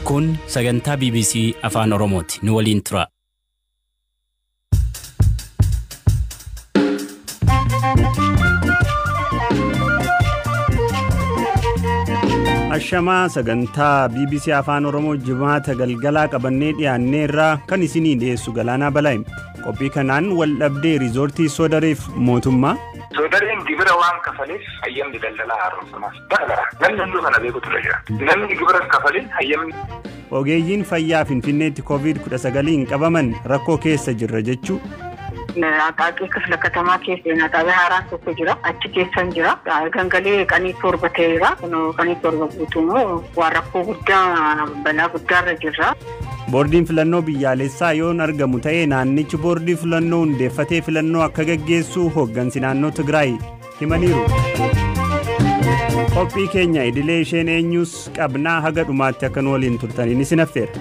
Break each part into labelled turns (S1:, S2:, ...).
S1: Kun sagantaa BBC Afaan Oromooti. Nu waliin tura.
S2: Ashamaa sagantaa BBC Afaan Oromoo jimaata galgalaa qabannee dhiyaannee irraa kan isinii dhiyeessu galaanaa balaa'im. Qophii kanaan wal dhabdee riizoortii soodareef mootummaa. Soodareen gibira
S3: waan kafaleef hayyamni daldalaa haaromfamaa. Bara bara namni hunduu kana beeku ture jira. Namni gibira kafalin hayyamni Ogeeyyiin
S2: fayyaa Finfinneetti Covid 19n qabaman rakkoo keessa jirra jechuu. Aqaaqii
S4: kifla katamaa keessa seenaa xaabee haaraan tokko jira. Achi keessan jira. Gangalee qanii torba ta'eera. Qanii torba guutuunuu waan rakkoo guddaa balaa guddaarra jirra. Boordiin filannoo
S2: biyyaalessaa yoon argamu ta'e naannichi boordii filannoo hundeeffatee filannoo akka gaggeessu hooggansi naannoo Tigraay. himaniiru. Qophii keenya idilee isheen eenyuus qabnaa haga dhumaatti akka nu waliin turtaniin isin affeera.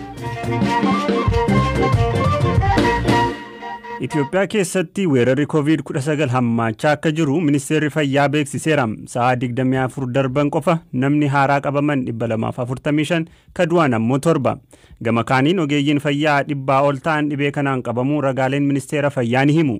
S2: Itoophiyaa keessatti weerarri COVID-19 hammaachaa akka jiru ministeerri fayyaa beeksiseera. Sa'aa 24 darban qofa namni haaraa qabaman 245 ka du'an ammoo torba. Gama kaaniin ogeeyyiin fayyaa dhibbaa ol ta'an dhibee kanaan qabamuu ragaaleen ministeera fayyaa ni himu.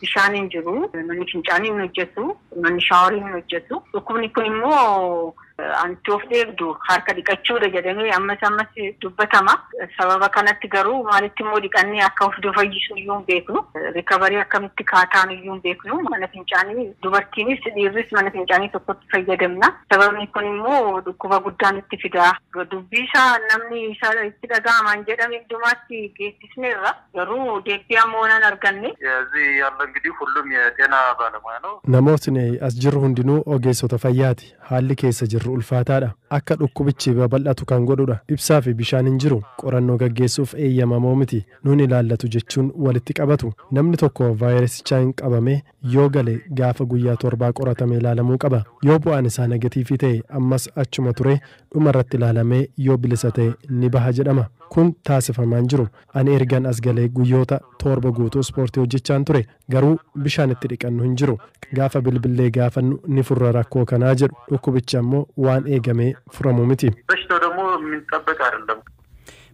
S4: Bishaan hin jiru. Manni fincaanii hin hojjetu. Manni shaaworii hin hojjetu. Dhukkubni kun immoo anti of eegdu harka dhiqachuudha jedhamee ammas ammas dubbatama. Sababa kanatti garuu maalitti immoo dhiqannee akka of fayyisnu iyyuu hin beeknu. Rikabarii akkamitti kaa taanu iyyuu hin beeknu. Mana fincaanii dubartiinis dhiirris mana fincaanii tokkotti fayyadamna. Sababni kun immoo dhukkuba guddaa nutti fida. Dubbii isaa namni isa itti dhaga'amaan jedhame hundumaatti geessisa. dhiyeessineerra. Garuu deebbii amma onaa hin arganne.
S3: Ezii yaalla ingidii hullum ye xena baalamuya no. Namootni as jirru
S5: hundinuu ogeessota fayyaati. Haalli keessa jirru ulfaataadha. Akka dhukkubichi babal'atu kan godhudha. Ibsaa fi bishaan hin jiru. Qorannoo gaggeessuuf eeyyamamoo miti. Nun ilaallatu jechuun walitti qabatu. Namni tokko vaayirasichaan qabamee Yoo gale gaafa guyyaa torbaa qoratamee ilaalamuu qaba. Yoo bu'aan isaa negatiivii ta'e ammas achuma turee dhuma irratti ilaalamee yoo bilisa ta'e ni baha jedhama. Kun taasifamaa hin jiru. Ani ergan as galee guyyoota toorba guutuu ispoortii hojjechaan ture. Garuu bishaan itti dhiqannu hin jiru. Gaafa bilbillee gaafannu ni furra rakkoo kanaa jedhu. Dhukkubichi ammoo waan eegamee furamu miti.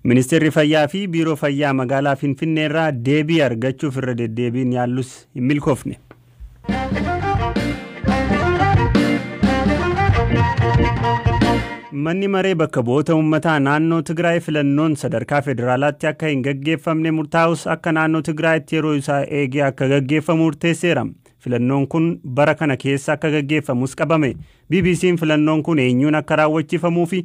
S3: Ministeerri
S2: Fayyaa fi Biiroo Fayyaa Magaalaa Finfinneerraa deebii argachuuf irra deddeebiin yaallus hin milkoofne. Manni maree bakka bu'oota uummataa naannoo Tigraay filannoon sadarkaa federaalaatti akka hin gaggeeffamne murtaa'us akka naannoo Tigraayitti yeroo isaa eegee akka gaggeeffamu murteesseera. Filannoon kun bara kana keessa akka gaggeeffamus qabame. BBC'n filannoon kun eenyuun akka raawwachiifamuu fi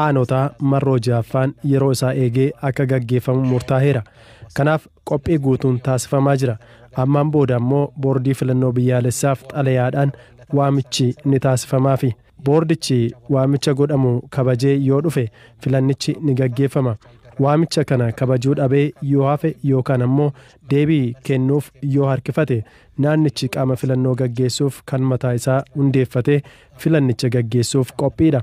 S5: Aanotaa marroo 6ffaan yeroo isaa eegee akka gaggeeffamu murtaaheera. Kanaaf qophii guutuun taasifamaa jira. Ammaan booda ammoo Boordii Filannoo Biyyaalessaaf xalayaadhaan waamichi ni taasifamaafi. Boordichi waamicha godhamu kabajee yoo dhufe filannichi ni gaggeeffama. Waamicha kana kabajuu dhabee yoo hafe yookaan ammoo deebii kennuuf yoo harkifate naannichi qaama filannoo gaggeessuuf kan mataa isaa hundeeffatee filannicha gaggeessuuf qophiidha.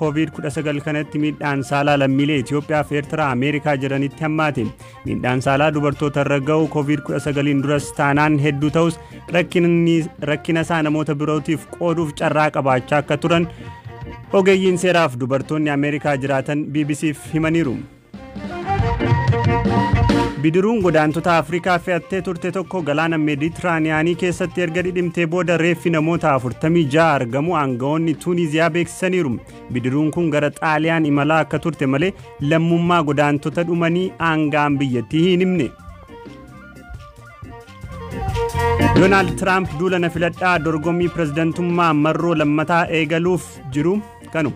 S2: Kooviid 19 kanatti miidhaan saalaa lammiilee Itoophiyaa fi Eertiraa Ameerikaa jiranitti hammaate. Miidhaan saalaa dubartoota irra ga'u Kooviid 19 duras taanaan hedduu ta'us rakkina isaa namoota birootiif qooduuf carraa qabaachaa akka turan ogeeyyiin seeraaf dubartoonni Ameerikaa jiraatan BBC'f himaniiru. Bidiruun godaantota Afrikaa fe'attee turte tokko galaana Meeditiraaniyaanii keessatti erga dhidhimtee booda reeffi namoota 46 argamu aangawoonni Tuuniziyaa beeksisaniiru. Bidiruun kun gara Xaaliyaan imalaa akka turte malee lammummaa godaantota dhumanii aanga'aan biyyattii hin himne. Doonaald Tiraamp duula na filadhaa dorgommii pirezidantummaa marroo lammataa eegaluuf jiru kanu.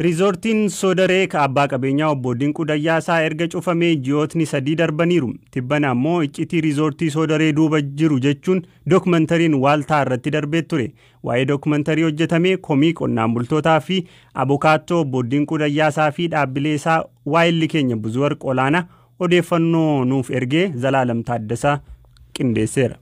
S2: Riizoortiin Soodaree ka abbaa qabeenyaa obbo Dinquu Dayyaasaa erga cufamee ji'ootni sadii darbaniiru. Tibbana ammoo iccitii riizoortii Soodaree duuba jiru jechuun dookumantariin waaltaa irratti darbee ture. Waa'ee dookumantarii hojjetamee komii qonnaan bultootaa fi abokaattoo obbo Dinquu Dayyaasaa fi dhaabbilee isaa waa'illi keenya Buzuwarq Olaanaa Odeeffannoo nuuf erge Zalaalam Taaddasaa qindeesseera.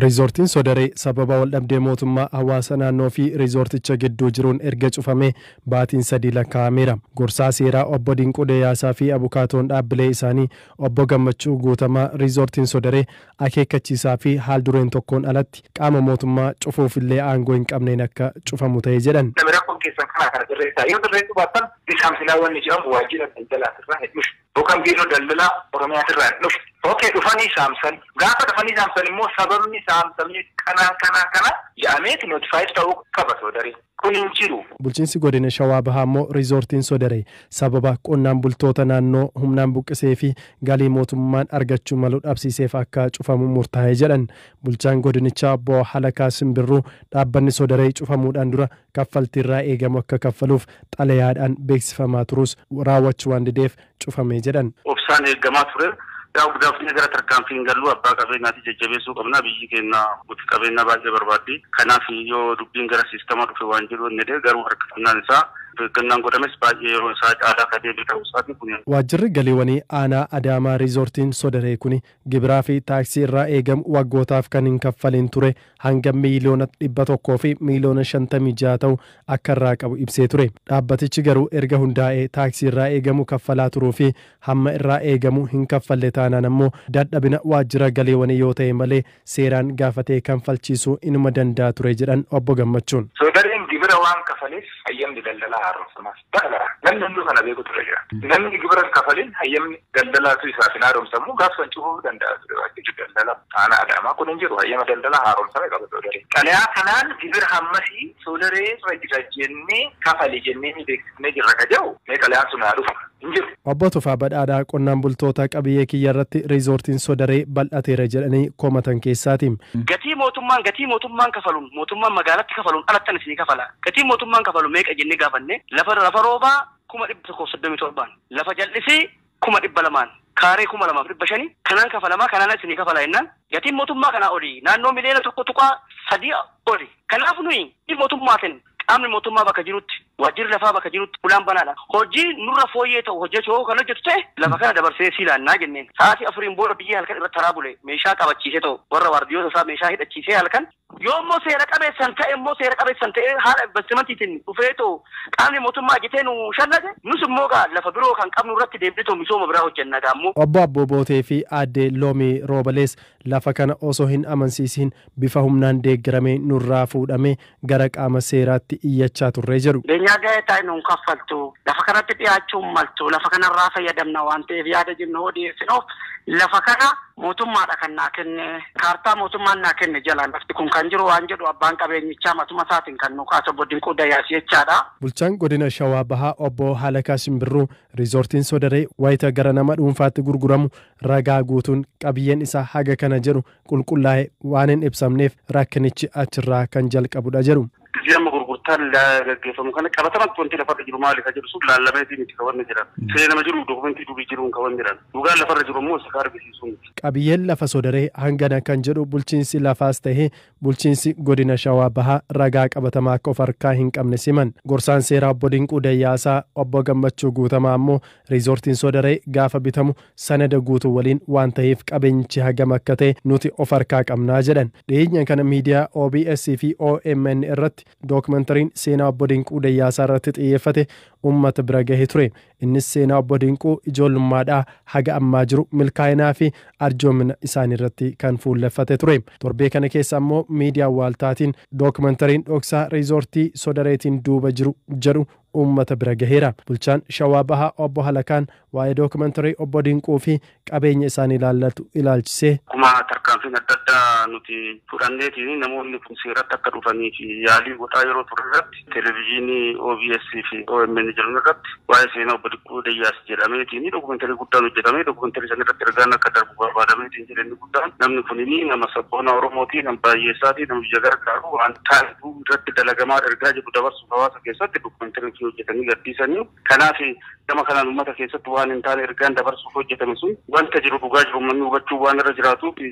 S2: Riizoortiin
S5: Sodaree sababa waldhabdee mootummaa, hawaasa naannoo fi riizoorticha gidduu jiruun erga cufamee baatiin sadii lakkaa'ameera. Gorsaa seeraa Obbo Dinquu Deeyaasaa fi abukaatoon dhaabbilee isaanii Obbo Gammachuu Guutamaa Riizoortiin Sodaree akeekkachiisaa fi haal-dureen tokkoon alatti qaama mootummaa cufuuf illee aangoo hin qabneen akka cufamu ta'e jedhan. Rakkoon keessan kanaa kana
S3: sirreessaa. Yoo sirreessuu baattan Bisaam Silaa wanni jedhamu waajjira daldalaati irraa hin dhufu. Bokan Biiroo Daldalaa Oromiyaatirraa hin dhufne. Ok dhufanii saamsan. Gaafa dhufanii saamsan immoo sababni saamsamee kanaa kanaa kana ja'ameeti notified ta'uu qaba Soodaree. Kun hin jiru. Bulchiinsi Godina Shawaa
S5: Bahaa immoo Riizoortiin Sodaree sababa qonnaan bultoota naannoo humnaan buqqisee fi galii mootummaan argachuu malu dhabsiiseef akka cufamu murtaa'e jedhan. Bulchaan godinichaa Obbo Halakaa Simbirruu dhaabbanni Sodaree cufamuudhaan dura kaffaltii irraa eegamu akka kaffaluuf xalayaadhaan beeksifamaa turuus raawwachuu waan dideef cufame jedhan. Obsaan eegamaa ture.
S6: Yaa obdaafnee gara tarkaanfii hin galluu abbaa qabeenyaati jajjabeessuu qabnaa biyyii keenna abbootii qabeenyaa baay'ee barbaaddii kanaaf yoo dubbiin gara siistama dhufe waan jedhu hin jedhee garuu harkifannaan isaa of eeggannaan godhames baay'ee yeroo isaa caalaa ka deebi'e ta'uu isaati kuni Waajjirri galiiwanii
S5: aanaa Adaamaa Riizoortiin Sodaree kuni Gibiraa fi taaksii irraa eegamu waggootaaf kan hin kaffaliin ture hanga miiliyoona 100 fi miiliyoona 56 ta'u akka irraa qabu ibsee ture. Dhaabbatichi garuu erga hundaa'ee taaksii irraa eegamu kaffalaa turuu fi hamma irraa eegamu hin kaffalle taanaan ammoo dadhabina waajjira galiiwanii yoo ta'e malee seeraan gaafatee kanfalchiisuu inuma danda'a ture jedhan Obbo Gammachuun. Soodareen gibira waan
S3: kafaleef hayyamni daldalaa haaromfamaa. Bara bara namni hunduu kana beekutu irra jira. Namni gibira hin kafalin hayyamni daldalaatu isaaf hin haaromsamu gaaf san cufuu danda'a ture waajjirri daldala aanaa Adaamaa kun hin jiru hayyama daldalaa haaromsame qaba soodaree. Xalayaa kanaan gibira hammasii soodaree irra jira jennee kafali jennee ni beeksifnee jirra ka jedhu mee xalayaan sun haa dhufu hin jiru. Obbo Tufaa Badhaadhaa
S5: qonnaan bultoota qabiyyee kiyyarratti riizoortiin Sodaree bal'ateera jedhanii komatan keessaati. Gatii mootummaan
S7: gatii mootummaan kafaluun mootummaan magaalatti kafaluun alattan isinii kafala. Gatiin mootummaan kafalu meeqa jennee gaafanne lafa lafa roobaa 137,000n, lafa jal'isii 200,000n, kaaree 2500 kanaan kafalamaa kanaan ala isinii kafalaa jennaan gatiin mootummaa kanaa oli naannoo miliyoona 1.3 oli. Kanaaf nuyi gatii mootummaatiin Qaamni mootummaa bakka jirutti, waajjirri lafaa bakka jirutti ulaan banaadha. Hojii nurra fooyyee ta'u hojjechuu hoo kan hojjetu ta'e lafa kana dabarsinee sii laannaa jenneen. Sa'aatii afuriin booda biyyee halkan irra taraa bule meeshaa qabachiisee ta'u warra waardiyoota isaa meeshaa hidhachiisee halkan, yoo immoo seera qabeessan ta'e immoo seera qabeessan ta'ee haala invastimantiitiin dhufee ta'u qaamni mootummaa ajjatee nu shallage nus immoo egaa lafa biroo kan qabnu irratti deebinee ta'u misooma biraa hojjenna egaa immoo. Obbo Abboo Bootee fi
S5: Aadde Loomii Roobalees lafa kana osoo hin amansiisiin bifa humnaan deeggaramee nurraa fuudhamee gara qaama seeraatti iyyachaa turre jedhu. Beenyaa ga'ee taa'e nuun
S7: kaffaltu, lafa kanatti dhiyaachuu hin maltu, lafa kanarraa fayyadamna waan ta'eef yaada jennu hoo dhiyeessinuuf lafa kana mootummaadha kan naa kenne, kaartaa mootummaan naa kenne jala lafti kun kan jiru waan jedhu abbaan qabeenyichaa matuma isaatiin kan nuu kaase Obbo Dinquu Dayaas jechaadha. Bulchaan Godina
S5: Shawaa Bahaa Obbo Halakaa Shimbirruu Riizoortiin Sodaree wayita gara nama dhuunfaatti gurguramu ragaa guutuun qabiyyeen isaa haga kana jedhu qulqullaa'e waan hin
S6: ibsamneef
S5: rakkinichi
S6: achirraa
S5: kan jalqabudha jedhu. Akkasii amma gurgurtaan
S6: gaggeeffamu kana qabatamatti wanti lafarra jiru maali kan jedhu sun laallameetii miti kan wanni jiran. Seenama jiru dokumentii durii jiruun kan wanni jiran. Dhugaan lafarra jiru immoo isa kan argisiisu miti. Qabiyyeen lafa Soodaree
S5: hangana kan jedhu bulchiinsi lafaas ta'ee bulchiinsi godina Shawaa Bahaa ragaa qabatamaa akka of harkaa hin qabnes himan. Gorsaan seeraa Obbo Dinquu Dayyaasaa Obbo Gammachuu Guutamaa ammoo Riizoortiin Soodaree gaafa bitamu sanada guutuu waliin waan taheef qabeenyichi hagam akka tahe nuti of harkaa qabna jedhan. Dhiheenya kana miidiyaa OBS fi omn irratti dookimentariin seenaa Obbo Dinquu Dayyaasaa irratti xiyyeeffate ummata bira gahe ture. Innis seenaa Obbo Dinquu ijoollummaadhaa haga ammaa jiru milkaa'inaa fi arjoomina isaanii irratti kan fuulleffate ture. Torbee kana keessa ammoo miidiyaa waaltaatiin dookimentariin dhoksaa Riizoortii Sodareetiin duuba jiru jedhu uummata bira gaheera. Bulchaan Shawaa Bahaa Obbo Halakaan waa'ee documentary Obbo Dinquu fi qabeenya isaanii ilaallatu ilaalchisee. Akkuma tarkaanfiin
S6: adda addaa nuti fudhanneetiin namoonni kun seeratti akka dhufaniif yaalii godhaa yeroo turre irratti Televizyinii OBS fi omn jedhan irratti waa'ee seenaa Obbo Dinquu Dayyaas jedhameetiin documentary guddaan hojjetamee documentary san irratti ergaan akka darbu barbaadameetiin jedhe inni guddaan namni kun nama sabboonaa Oromooti, nama baayyeessaati, nama biyya gargaaru waan taa'eefu irratti dalagamaa ergaa jedhu dabarsuuf. hawaasa keessatti dokumentarii hojjetanii gadhiisanii kanaaf gama kanaan uummata keessatti waan hin taane ergaan dabarsuuf hojjetame sun wanta jiru dhugaa jiru uummanni hubachuu waan irra jiraatuuf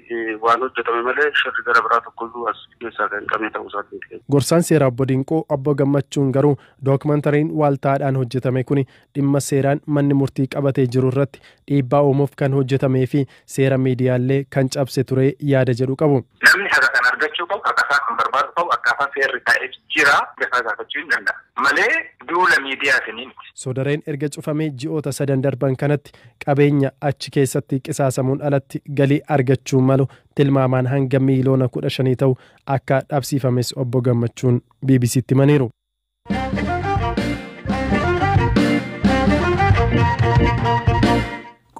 S6: waan hojjetame malee shirri gara biraa tokkoyyuu as keessaa kan qabne ta'uu isaatiin. Gorsaan seeraa Obbo
S5: Dinquu Obbo Gammachuun garuu dookumentariin waaltaadhaan hojjetame kuni dhimma seeraan manni murtii qabatee jiru irratti dhiibbaa uumuuf kan hojjetamee fi seera miidiyaallee kan cabse ture yaada jedhu qabu. Namni haqa kana argachuu
S3: qabu, haqasaa kan barbaadu qabu akkaataa seerri taa'eef jira mirgasaa gaafachuu hin danda'a. Malee duula miidiyaatiin miti. Soodareen erga
S5: cufamee ji'oota sadan darban kanatti qabeenya achi keessatti qisaasamuun alatti galii argachuu malu tilmaamaan hanga miiliyoona kudha shanii ta'u akka dhabsiifames Obbo Gammachuun BBC'tti himaniiru.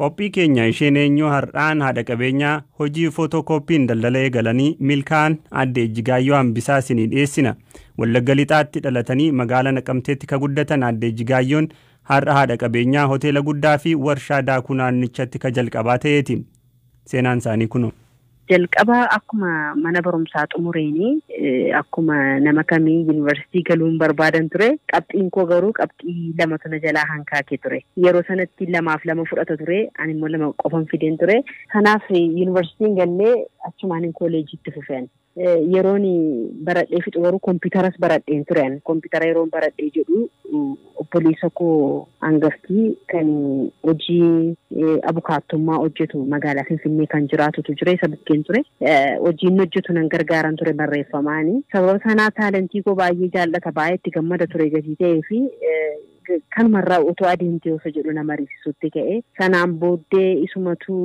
S2: Qophii keenya isheen eenyuu har'aan haadha qabeenyaa hojii footookooppiin daldala eegalanii milkaa'an adde Ejjigaayyoo Hambisaa isinii dhiyeessina. Wallagga Lixaatti dhalatanii magaalaa Naqamteetti ka guddatan adde Ejjigaayyoon har'a haadha qabeenyaa hoteela guddaa fi warshaa daakuu naannichatti ka jalqabaa ta'eeti. Seenaan isaanii kunoo. Jalqaba
S8: akkuma mana barumsaa xumureen akkuma nama kamii yunivarsiitii galuun barbaadan ture. Qabxiin koo garuu qabxii lamatu na jalaa hankaake ture. Yeroo sanatti lamaaf lama fudhata ture. Ani immoo lama qofan fideen ture. Kanaaf yunivarsiitii hin galle achumaanin kooleejii itti fufe ani. Yeroon baradhee fixu garuu kompiitaras baradheen ture ani. Kompiitara yeroon baradhee jedhu obboleessa koo hangaftii kan hojii abukaattummaa hojjetu magaalaa Finfinnee kan jiraatutu jira isa bukkeen ture. Hojii inni hojjetu nan gargaaran ture barreeffamaani. Sababa sanaa taalentii koo baay'ee jaallata baay'ee itti gammada ture gatii ta'ee fi Kanuma irraa otoo adeemtee osoo jedhu na mariisisuutti ka'e. Sanaan booddee isumatu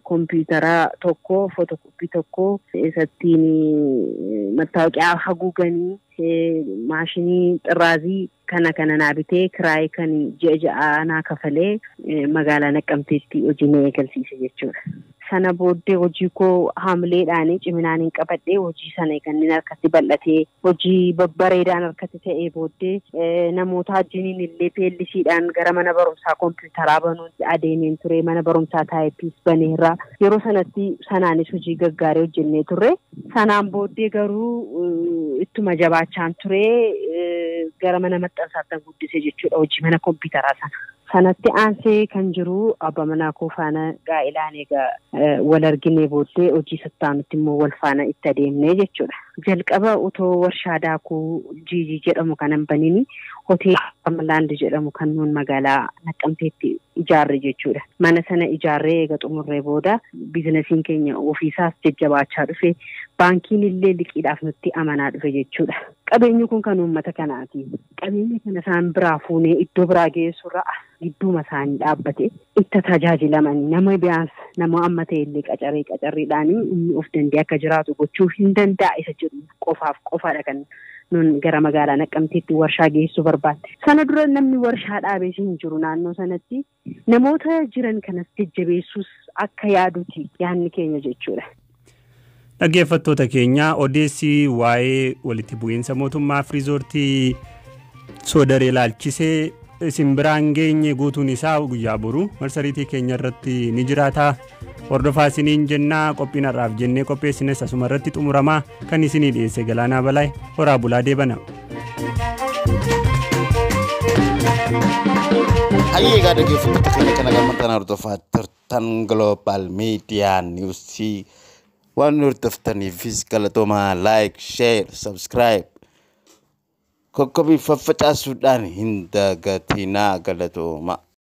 S8: kompiitara tokko, fotokoppii tokko isattiin mattaawoqiyaa haguuganii maashinii xirraazii kana kana naa bitee kiraayii kan ji'a ja'aa naa kafalee magaalaa Naqqamteetti hojii na eegalsiise jechuudha. Sana booddee hojii koo haamileedhaan ciminaanin qabadhee hojii sana eegannin harkatti bal'atee hojii babbareedaan harkatti ta'ee booddee namootaa wajjiniin illee PLCdhaan gara mana barumsaa kompiitaraa banuutti adeemeen ture. Mana barumsaa taayippiis baneerra. Yeroo sanatti sanaanis hojii gaggaarii hojjennee turre. Sanaan booddee garuu ittuma jabaachaan ture gara mana maxxansaatti guddise jechuudha hojii mana kompiitaraa sana. Sanatti aansee kan jiru abba manaa koo faana gaa'elaan egaa wal arginee booddee hojii sattaanutti immoo wal faana itti adeemnee jechuudha. Jalqaba otoo warshaa daakuu jiijii jedhamu kan hin baniin hoteela Amlaand jedhamu kan nuun magaalaa Naqqamteetti ijaarre jechuudha. Mana sana ijaarree eega xumurree booda biizinasiin keenya ofiisaas jajjabaachaa dhufe baankiin illee liqiidhaaf nutti amanaa dhufe jechuudha. Qabeenyi kun kan uummata kanaati. Qabeenya kana isaan biraa fuunee iddoo biraa geessuurra as gidduuma isaanii dhaabbatee itti tajaajilamanii nama biyaans nama amma ta'e illee qacaree qacarriidhaan inni of danda'ee akka jiraatu gochuu hin danda'a isa jedhu qofaaf qofaadha kan nun gara magaalaa Naqqamteetti warshaa geessuu barbaanne. Sana dura namni warshaa dhaabees hin jiru naannoo sanatti. Namoota jiran kanas jajjabeessuus akka yaaduti yaanni keenya jechuudha.
S2: Dhaggeeffattoota keenya odeessi waa'ee walitti bu'iinsa mootummaa fi riizoortii soodaree laalchisee isin biraan geenye guutuun isaa guyyaa boru marsariitii keenya irratti ni jiraata. Hordofaa isiniin jennaa qophiin har'aaf jennee qopheessines asuma irratti xumuramaa kan isinii dhiyeesse galaanaa balaay horaa bulaa deebana.
S9: Hayyee egaa dhaggeeffattoota keenya kana gamma kana hordofaa turtan Global Media News waan nu hordoftaniifis galatoomaa like, share, subscribe kokkobii faffacaasuudhaan hin dagatinaa galatoomaa.